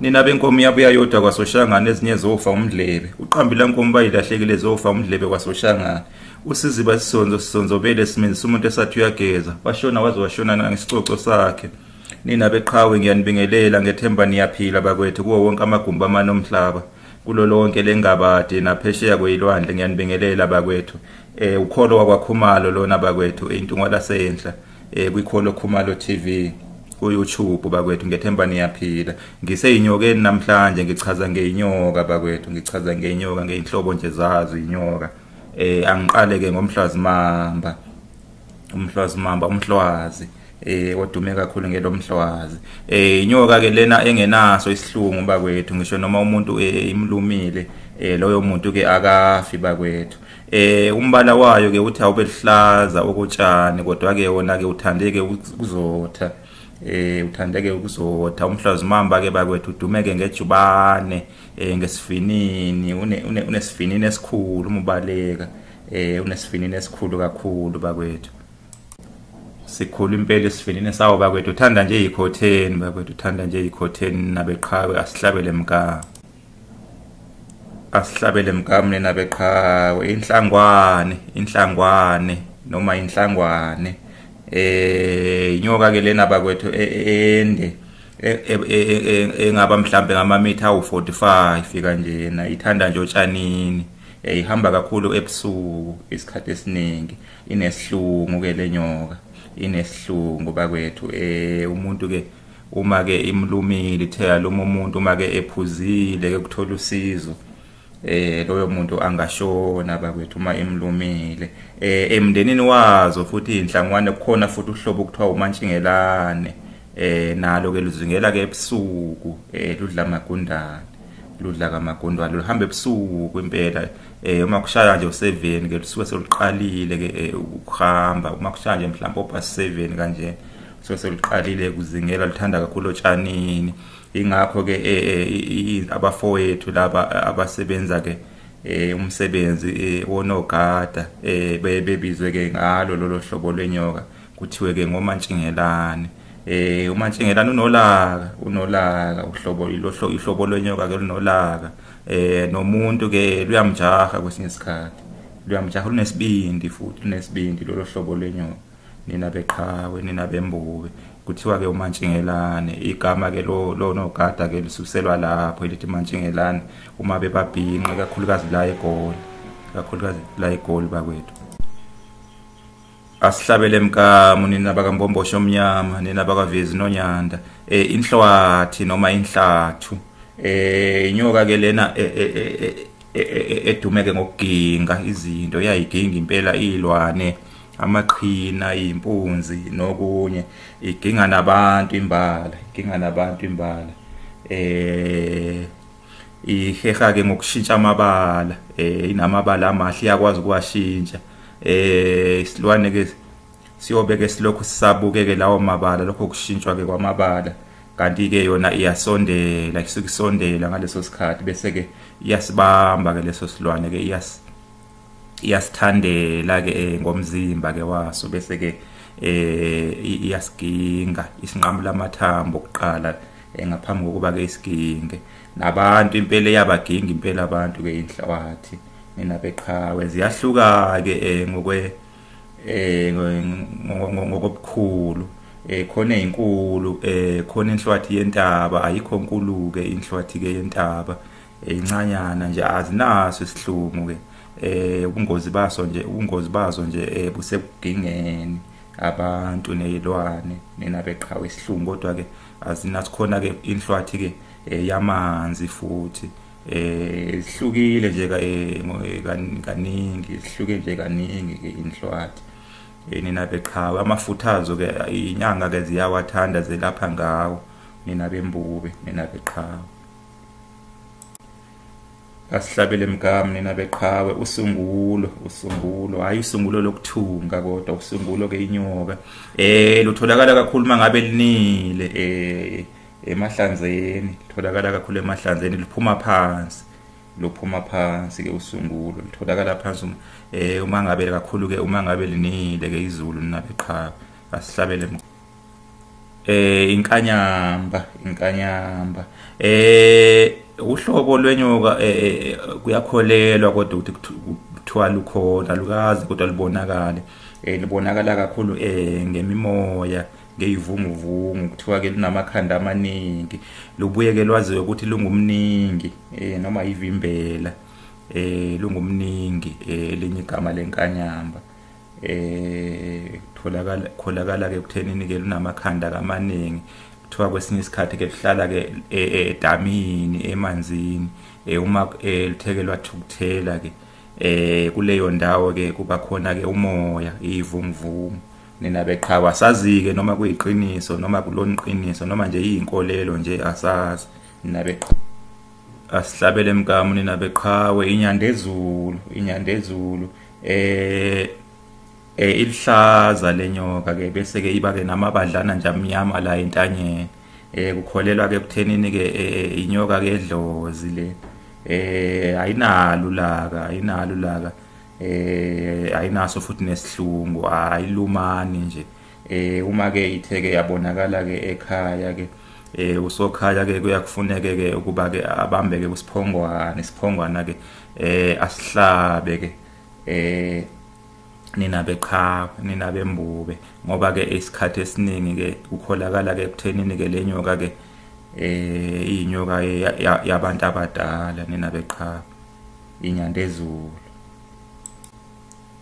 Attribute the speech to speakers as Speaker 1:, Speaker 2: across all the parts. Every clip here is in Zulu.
Speaker 1: nina benkomo yabuya yodwa kwasoshangane ezinye zofa umdlebe uqambile nkomo bayilahlekile zofa umdlebe kwasoshangane usiziba isisonzo sisonzobele esimeni sumuntu esathi uyageza washona waze washona nangesicoco sakhe nina beqhawe ngiyanibingelela ngethemba niyaphila bakwethu kuwo wonke amagumbi amane omhlaba kulo lonke lengabade naphesheya kweyilwandle ngiyanibingelela bakwethu eh ukholo wakwakhumalo lona bakwethu intungwa lasenhla eh kwikholo Khumalo TV ku-YouTube bakwethu ngethemba niyaphila ngiseyinyokeni namhlanje ngichaza ngeinyoka bakwethu ngichaza ngeinyoka ngeinhlobo nje zazo inyoka eh angiqale ke ngomhlwazi mamba umhlwazi mamba umhlwazi eh odume kakhulu ngelomhlwazi eh inyoka ke lena engenaso isihlungu bakwethu ngisho noma umuntu eh, imlumile eh loyo muntu ke akafi bakwethu Eh umbala wayo ke uthi awube luhlaza okotshani kodwa ke wona ke uthandeke ukuzotha. Eh uthandeke ukuzotha umhlazimamba ke bakwethu udumeke ngejubane eh ngesifinini une unesifinini esikhulu umubaleka eh unesifinini esikhulu kakhulu bakwethu. Sikhulu impela isifinini sawo bakwethu uthanda nje ikhotheni bakwethu uthanda nje ikhotheni nabeqhawe asihlabele mgama. asihlabele mkamne nabeqhawe inhlangwane inhlangwane noma inhlangwane eh inyoka ke lena bakwethu e, e, ende e, engaba mhlambe ngamamitha awu45 kanjena ithanda nje otshanini ihamba kakhulu ebusuku isikhathi esiningi inesihlungu ke lenyoka inesihlungu bakwethu eh umuntu ke uma ke imlumile ithe yaluma umuntu uma ke ephuzile ke kuthola usizo eh loyo muntu angashona bakwethu uma emlumile eh emndenini wazo futhi inhlangwane kukhona futhi uhlobo kuthiwa umantshingelane eh nalo ke luzingela ke ebusuku eh ludla magundane ludla kamagundwane luhamba ebusuku impela eh uma kushaya nje u7 ke lusuke seluqalile ke eh, ukuhamba uma kushaya nje mhlawumbe oba 7 kanje so seliqalile ukuzingela lithanda kakhulu otshanini ingakho ke eh, eh, abafowethu laba eh, abasebenza ke umsebenzi wonogada bebizwe ke ngalo lolo hlobo lwenyoka kuthiwe ke ngomantshingelane eh umantshingelane unolaka unolaka uhlobo ilohlo ihlobo lwenyoka ke lunolaka eh nomuntu ke luyamjaha kwesinye isikhathi luyamjaha lunesibindi futhi lunesibindi lolo hlobo lwenyoka nina beqhawe nina bembube kuthiwa-ke umantshingelane igama-ke lonogada-ke lo lisuselwa lapho elithi mantshingelane uma bebabhinqe kakhulukazi la egoli kakhulukazi la egoli bakwethu asihlabele emkamu nina bakambombosho omnyama nina bakavezi nonyanda um inhlwathi noma inhlathu um eh, inyoka-ke lena eh, eh, edumeke ngokuginga izinto iyayiginga impela iyilwane amaqhina impunzi nokunye iginga nabantu imbala iginga nabantu imbala eh iheha ke ngokushintsha amabala eh inamabala amahle yakwazi ukuwashintsha eh isilwane ke siyobe ke silokhu sisabukeke lawo mabala lokho kushintshwa ke kwamabala kanti ke yona iyasondela isuke isondela ngaleso sikhathi bese ke iyasibamba ke leso silwane ke iyas iyasithandela ke eh, ngomzimba ke waso bese ke eh iyasiginga isinqamula amathambo okuqala eh, ngaphambi kokuba ke isiginge nabantu impela yabaginga impela abantu ke inhlawathi mina beqhawe ziyahluka ke eh, ngokwe eh ngokobukhulu eh khona izinkulu eh khona inhlwathi yentaba ayikho nkulu ke inhlwathi ke yentaba incanyana nje azinaso isihlumu ke eh ubungozi baso nje ubungozi bazo nje eh, busekugingeni abantu nezilwane nina beqhawe isihlungu kodwa ke azinasikhona ke inhlwathi ke eh, yamanzi futhi eh ihlukile nje eh, kaningi ihluke nje kaningi ke inhlwathi nina beqhawe amafuthazo ke inyanga ke ziyawathanda zelapha ngawo nina bembube nina beqhawe asihlabele mgama nina beqhawe usungulo usungulo hayi usungulo lokuthunga kodwa usungulo ke inyoka eh lutholakala kakhulu mangabe linile eh emahlanzeni litholakala kakhulu emahlanzeni liphuma phansi lophuma phansi ke usungulo litholakala phansi uma eh uma ngabe kakhulu ke uma ngabe linile ke izulu ninabeqhawe asihlabele eh inkanyamba inkanyamba eh uhlobo lwenyoka eh, eh, eh, kuyakholelwa kodwa ukuthi kuthiwa lukhona lukazi kodwa lubonakale eh libonakala kakhulu eh ngemimoya ngeyivunguvungu kuthiwa ke lunamakhanda amaningi lubuye ke lwaziwe ukuthi lungumningi eh noma yivimbela eh lungumningi eh linye igama lenkanyamba eh tholakala kholakala ke kuthenini ke lunamakhanda kamaningi kuthiwa kwesinye isikhathi ke kuhlala ke e, e, edamini emanzini eh, uma eh, luthekelwa thukuthela ke eh kuleyo ndawo ke kuba khona ke umoya ivumvumu nina beqhawa sazike noma kuyiqiniso noma kuloniqiniso noma nje izinkolelo nje asazi nabeqhawe asihlabele mkamu nina beqhawe inyanda ezulu inyanda ezulu eh eh ilihlaza lenyoka ke bese ke iba ke namabadlana nje amnyama la entanyeni eh kukholelwa ke kuthenini ke eh, eh, inyoka ke edlozi le eh ayinalo laka ayinalo laka eh ayinaso futhi nesihlungu ayilumani nje eh uma ke itheke yabonakala ke ekhaya ke eh usokhaya ke kuyakufuneke ke ukuba ke abambe ke kusiphongwana isiphongwana ke eh asihlabe ke eh nina beqhawe nina bembube ngoba ke isikhathi esiningi ke ukholakala ke kuthenini ke lenyoka ke eh inyoka yabantu abadala nina beqhawe inyandezulu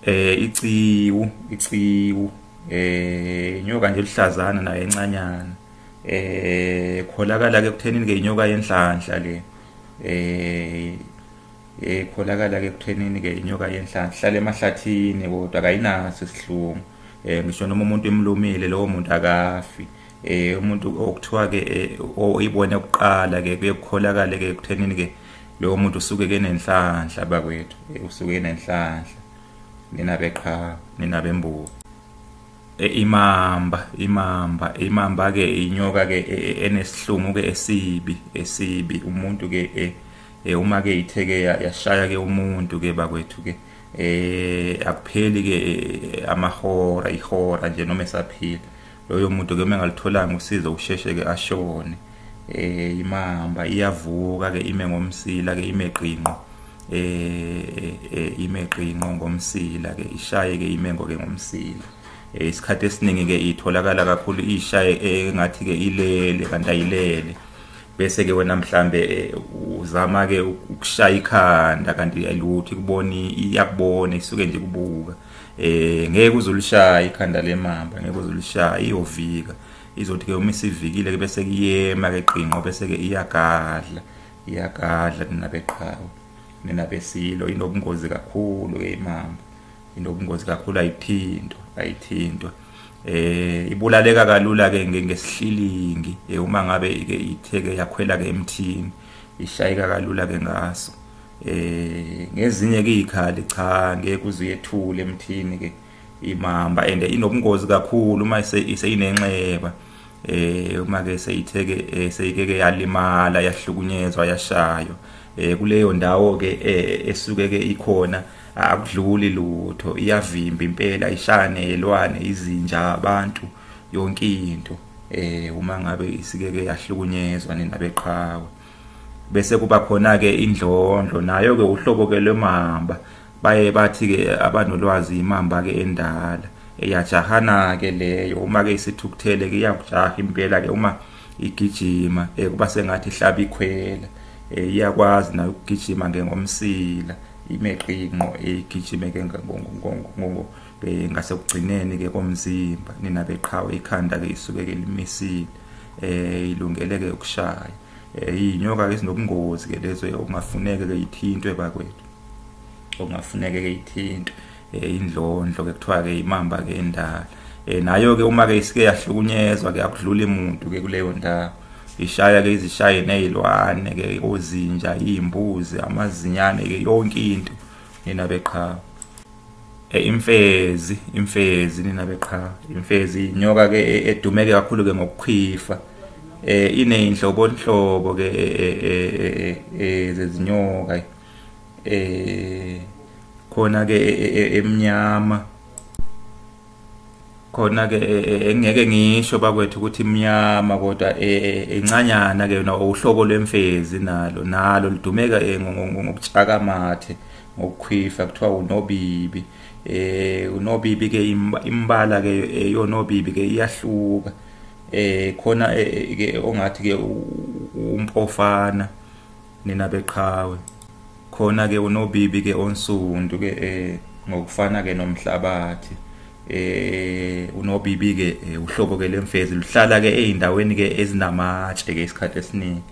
Speaker 1: eh iciwu iciwu eh inyoka nje luhlazana nayo encanyana eh kholakala ke kuthenini ke inyoka yenhlanhla le eh ekholakala eh, ke kuthenini ke inyoka yenhlanhla hlale emahlathini kodwa kayinaso isihlungu eh ngisho noma umuntu emlumile lowo muntu akafi eh umuntu okuthiwa ke eh, oyibona kuqala ke kuyekholakala ke kuthenini ke lowo muntu usuke kenenhlanhla bakwethu usuke enenhlanhla nina beqhawe nina bembuka e, imamba imamba imamba ke inyoka ke e, e, enesihlumu ke esibi esibi umuntu ke eh uma ke itheke yashaya ke umuntu ke bakwethu ke eh akupheli ke amahora ihora nje noma esaphila loyo muntu ke mengalutholanga usizo usheshe ke ashone eh imahamba iyavuka ke ime ngomsila ke ime qinqo eh, eh, eh ime qinqo ngomsila ke ishaye ke ime ngoke ngomsila eh, isikhathi esiningi ke itholakala kakhulu ishaye engathi ke ilele kanti ayilele bese ke wena mhlambe eh, uzama ke ukushaya ikhanda kanti ayiluthi kuboni iyakubona isuke nje kubuka eh ngeke uzolishaya ikhanda lemamba ngeke uzolishaya iyovika izothi ke uma isivikile ke bese kuyema ke qinqo bese ke iyagadla iyagadla ninabeqhawe ninabesilo inobungozi kakhulu ke imamba inobungozi kakhulu ayithintwa ayithintwa eh ibulaleka kalula ke ngesihlilingi eh, uma ngabe ke itheke yakhwela ke emthini ishayeka kalula ke ngaso eh ngezinye kuyikhali cha ngeke kuze uyethule emthini ke imamba and inobungozi kakhulu uma iseyinenxeba eh uma ke seyitheke eh, seyikeke yalimala yahlukunyezwa yashaywa eh kuleyo ndawo ke eh, esuke ke ikhona akudluli lutho iyavimba impela ishane yelwane izinja abantu yonke into eh uma ngabe isikeke yahlukunyezwa ninabeqhawe bese kuba khona ke indlondlo nayo ke uhlobo ke lwemamba baye bathi ke abanolwazi imamba ke endala eyajahana ke leyo uma ke isithukuthele ke iyakujaha impela ke uma igijima eh kuba sengathi ihlaba ikhwela eh iyakwazi nayo ukugijima ngengomsila imeqinqo eyigijime eh, ke ngongo eh, ngasekugcineni ke komzimba nina beqhawe ikhanda ke isuke ke limisile eh ilungele ke ukushaya eh inyoka ezinobungozi ke lezo okungafuneke ke ithintwe bakwethu okungafuneke ke ithintwe eh indlondlo ke kuthiwa ke imamba ke endala eh nayo ke uma ke isike yahlukunyezwa ke akudluli umuntu ke kuleyo ndawo ishaya ke izishaye nezilwane ke ozinja imbuzi amazinyane ke yonke into nina beqhawe Eh, imfezi imfezi nina beqhawe imfezi inyoka ke e, edumeke kakhulu ke ngokukhwifa eh ineyinhlobo nhlobo ke eh, eh, zezinyoka eh khona ke emnyama khona ke e, e, engeke ngisho bakwethu ukuthi imnyama kodwa e, incanyana ke yona uhlobo lwemfezi nalo nalo lidumeka ngokutshaka amathe ngokukhwifa kuthiwa unobibi eh unobibi ke imbala ke eyonobibi ke iyahluka eh khona ke ongathi ke umpofana nina beqhawe khona ke unobibi ke onsundu ke eh ngokufana ke nomhlabathi eh unobibi ke eh, uhlobo ke lemfezi luhlala ke ezindaweni ke ezinamatshe ke isikhathi esiningi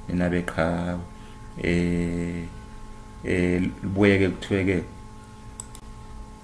Speaker 1: nina beqhawe eh eh libuye ke kuthiwe ke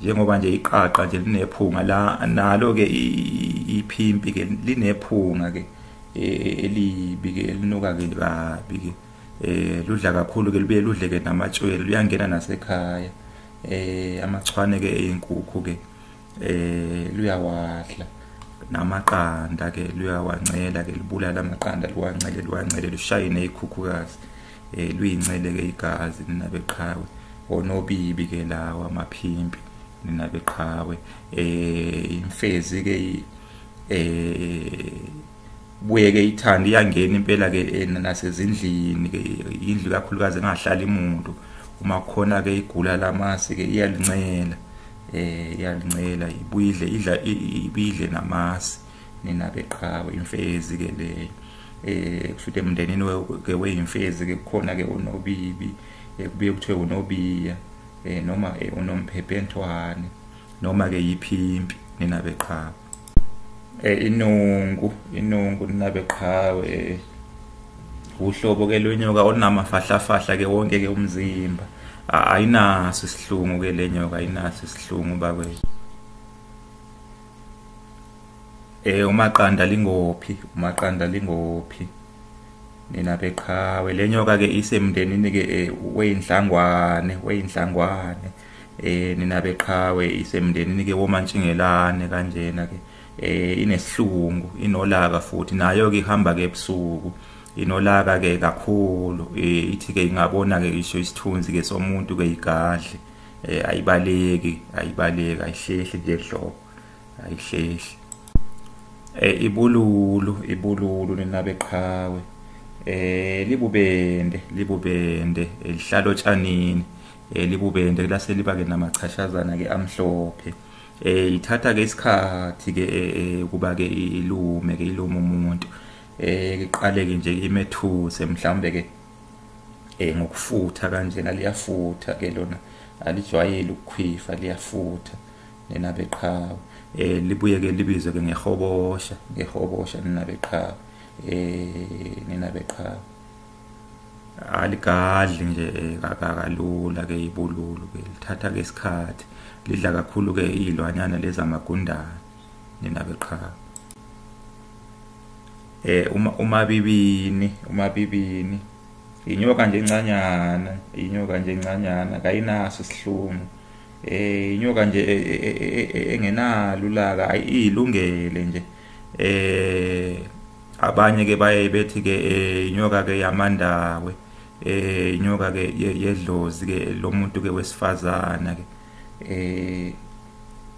Speaker 1: njengoba nje iqaqa nje linephunga la nalo ke iphimpi ke linephunga ke e, elibi ke elinuka ke kabi ke eh ludla kakhulu ke libuye ludle ke namatshwele luyangena nasekhaya eh amachwane ke eyinkukhu ke eh luyawadla namaqanda ke luyawancela ke libulala amaqanda liwancele liwancele lushaye nezikhukhukazi eh luyincele ke igazi nina beqhawe onobibi ke lawa amaphimpi nina beqhawe eh imfezi ke eh buye ke ithanda iyangena impela ke eh, nasezindlini ke indlu kakhulukazi engahlali umuntu uma khona ke igula lamasi ke iyalincela eh iyalincela ibuyidle idla ibidle namasi nina beqhawe imfezi ke le eh kushuthi emndenini ke weyimfezi ke kukhona ke unobibi eh, kubuye kuthiwe unobiya eh noma eh, unomphephentwane noma ke yiphimpi nina beqhawe eh inungu inungu nina beqhawe eh, uhlobo ke lwenyoka onamafahlafahla ke wonke ke umzimba ayinaso isihlungu ke lenyoka ayinaso isihlungu bakwethu Eh umaqanda lingophi umaqanda lingophi nina beqhawe lenyoka ke isemndenini ke eh, weyinhlangwane weyinhlangwane eh nina beqhawe isemndenini ke womantshingelane kanjena ke eh inesilungu inolaka futhi nayo ke ihamba ke ebusuku inolaka ke kakhulu eh ithi ke ingabona ke isho isithunzi ke somuntu ke igadle eh ayibaleki ayibaleki ayihlehli nje hlobo ayihlehli eh ibululu ibululu ninabe qhawe eh libubende libubende elihlalo eh, tshanini eh libubende kulase liba ke namachashazana ke amhlophe eh ithatha ke isikhathi ke eh, eh, kuba ke ilume ke ilume umuntu eh iqale ke nje imethuse mhlambe ke eh ngokufutha kanjena liyafutha ke lona alijwayele ukukhwifa liyafutha nina beqhawe eh libuye ke libizwe ke ngehobosha ngehobosha nina beqhawe eh nina beqhawe aligadli nje eh, kakalula ke ibululu ke lithatha ke isikhathi lidla kakhulu ke izilwanyana lezamagundane ningabe qha eh uma uma bibini uma bibini inyoka nje encanyana inyoka nje encanyana kayinaso isihlungu eh inyoka nje e, e, e, engenalo ulaka ayilungele nje eh abanye ke baye bethi ke eh, inyoka ke yamandawe eh inyoka ke yedlozi ke lomuntu ke wesifazana ke eh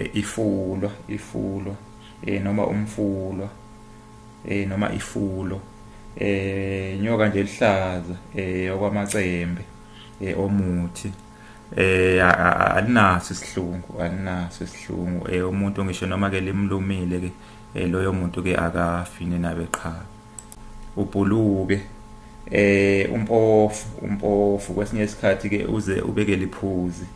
Speaker 1: eh, ifulwa ifulwa eh noma umfulwa eh noma ifulo eh nyoka nje lihlaza eh okwamacembe eh omuthi eh alinaso isihlungu alinaso isihlungu eh umuntu ngisho noma ke limlumile ke eh, loyo muntu ke akafi nenabe qha ubhuluke eh umpofu umpofu kwesinye isikhathi ke uze ubeke liphuzi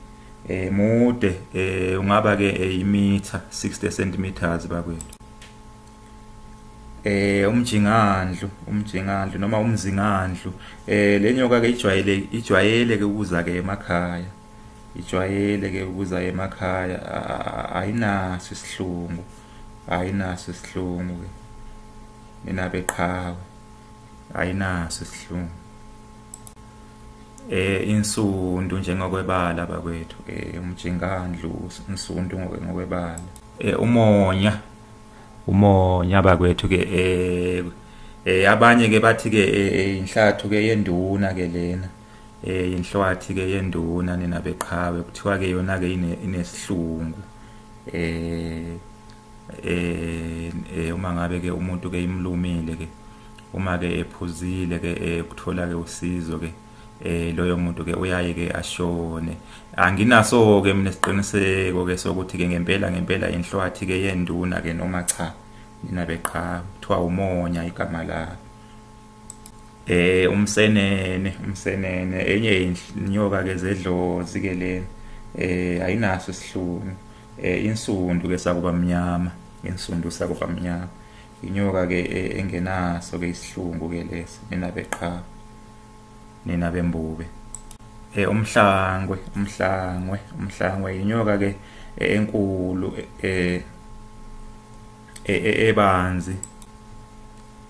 Speaker 1: eh mude eh ungaba ke eh, imitha 60 centimeters bakwethu eh umjingandlu umjingandlu noma umzingandlu eh lenyoka ke ijwayele ijwayele ke ukuza ke emakhaya ijwayele ke ukuza emakhaya ayinaso isihlungu ayinaso isihlungu ke mina beqhawe ayinaso isihlungu eh insundu njengokwebala bakwethu eh umjingandlu insundu ngokwebala eh umonya umonya bakwethu ke eh eh abanye ke bathi ke eh, eh, inhlathu ke yenduna ke lena eh inhlwathi ke yenduna nina beqhawe kuthiwa ke yona ke inesihlungu eh eh, eh uma ngabe ke umuntu ke imlumile ke uma ke ephuzile ke eh, ukuthola ke usizo ke eh loyo muntu ke uyaye ke ashone anginaso ke mina siqiniseko ke sokuthi ke ngempela ngempela inhlwathi ke yenduna ke noma cha nina beqha kuthiwa umonya igama lakhe eh umsenene umsenene enye inyoka ke zedlozi ke le eh ayinaso isihlungu eh insundu ke sakuba mnyama insundu sakuba mnyama inyoka ke e, engenaso ke isihlungu ke lesi nina beqhaba nina bembube eh umhlangwe umhlangwe umhlangwe inyoka ke e, enkulu eh e, ebanzi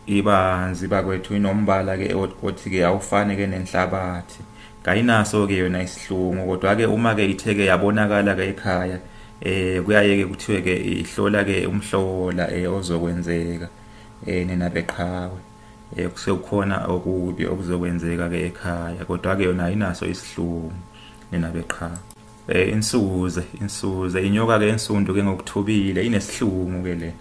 Speaker 1: ibanzi bakwethu inombala ke othi ke awufane ke nenhlabathi kayinaso ke yona isihlungu kodwa ke uma ke ithe ke yabonakala ke ekhaya eh kuyaye ke kuthiwe ke ihlola ke umhlola eh ozokwenzeka eh nina beqhawe eh kusekhona okubi okuzokwenzeka ke ekhaya kodwa ke yona ayinaso isihlungu nina beqhawe eh insuze insuze inyoka ke ensundu ke ngokuthubile inesihlungu ke lena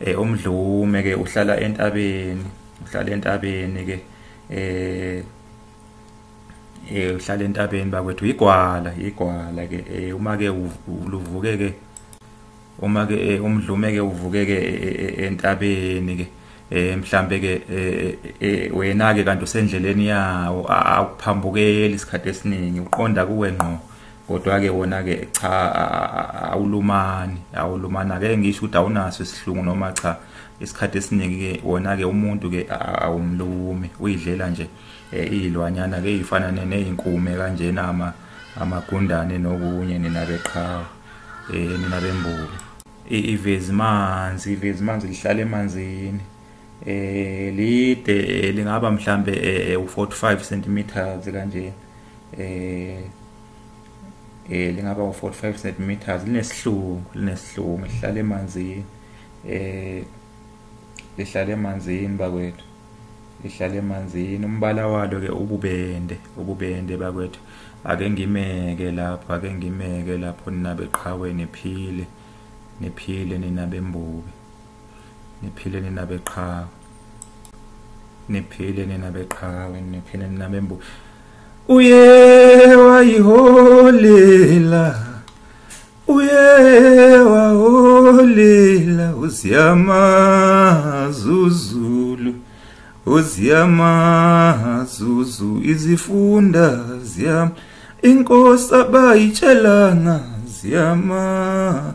Speaker 1: eh umdlume ke uhlala entabeni uhlala entabeni ke eh eh uhlala entabeni bakwethu igwala igwala ke eh uma ke uluvuke ke uma ke eh, umdlume ke uvuke ke eh, eh, entabeni ke eh mhlambe ke wena ke kanti usendleleni yawo akuphambukeli isikhathi esiningi uqonda kuwe ngqo kodwa ke wona ke cha awulumani awulumani ake ngisho ukuthi awunaso isihlungu noma cha isikhathi esiningi ke wona ke umuntu ke awumlumi uyidlela nje eh, izilwanyana ke izifana nezinkume kanjena ama amagundane nokunye nina beqhawe eh nina bembuku ivezi manzi ivezi manzi lihlala emanzini eh lide eh, lingaba mhlambe eh, eh, u45 cm kanje eh eh lingaba u45 cm linesihlungu linesihlungu lihlala emanzini eh lihlala emanzini bakwethu lihlala emanzini umbala walo ke ububende ububende bakwethu ake ngimeke lapho ake ngimeke lapho ninabeqhawe niphile niphile ninabembuke niphile nina beqhawe niphile nina beqhawe niphile nina bembu uye wayiholela uye waholela uziyamazuzulu uziyamazuzu izifunda ziyam inkosi abayitshelanga ziyama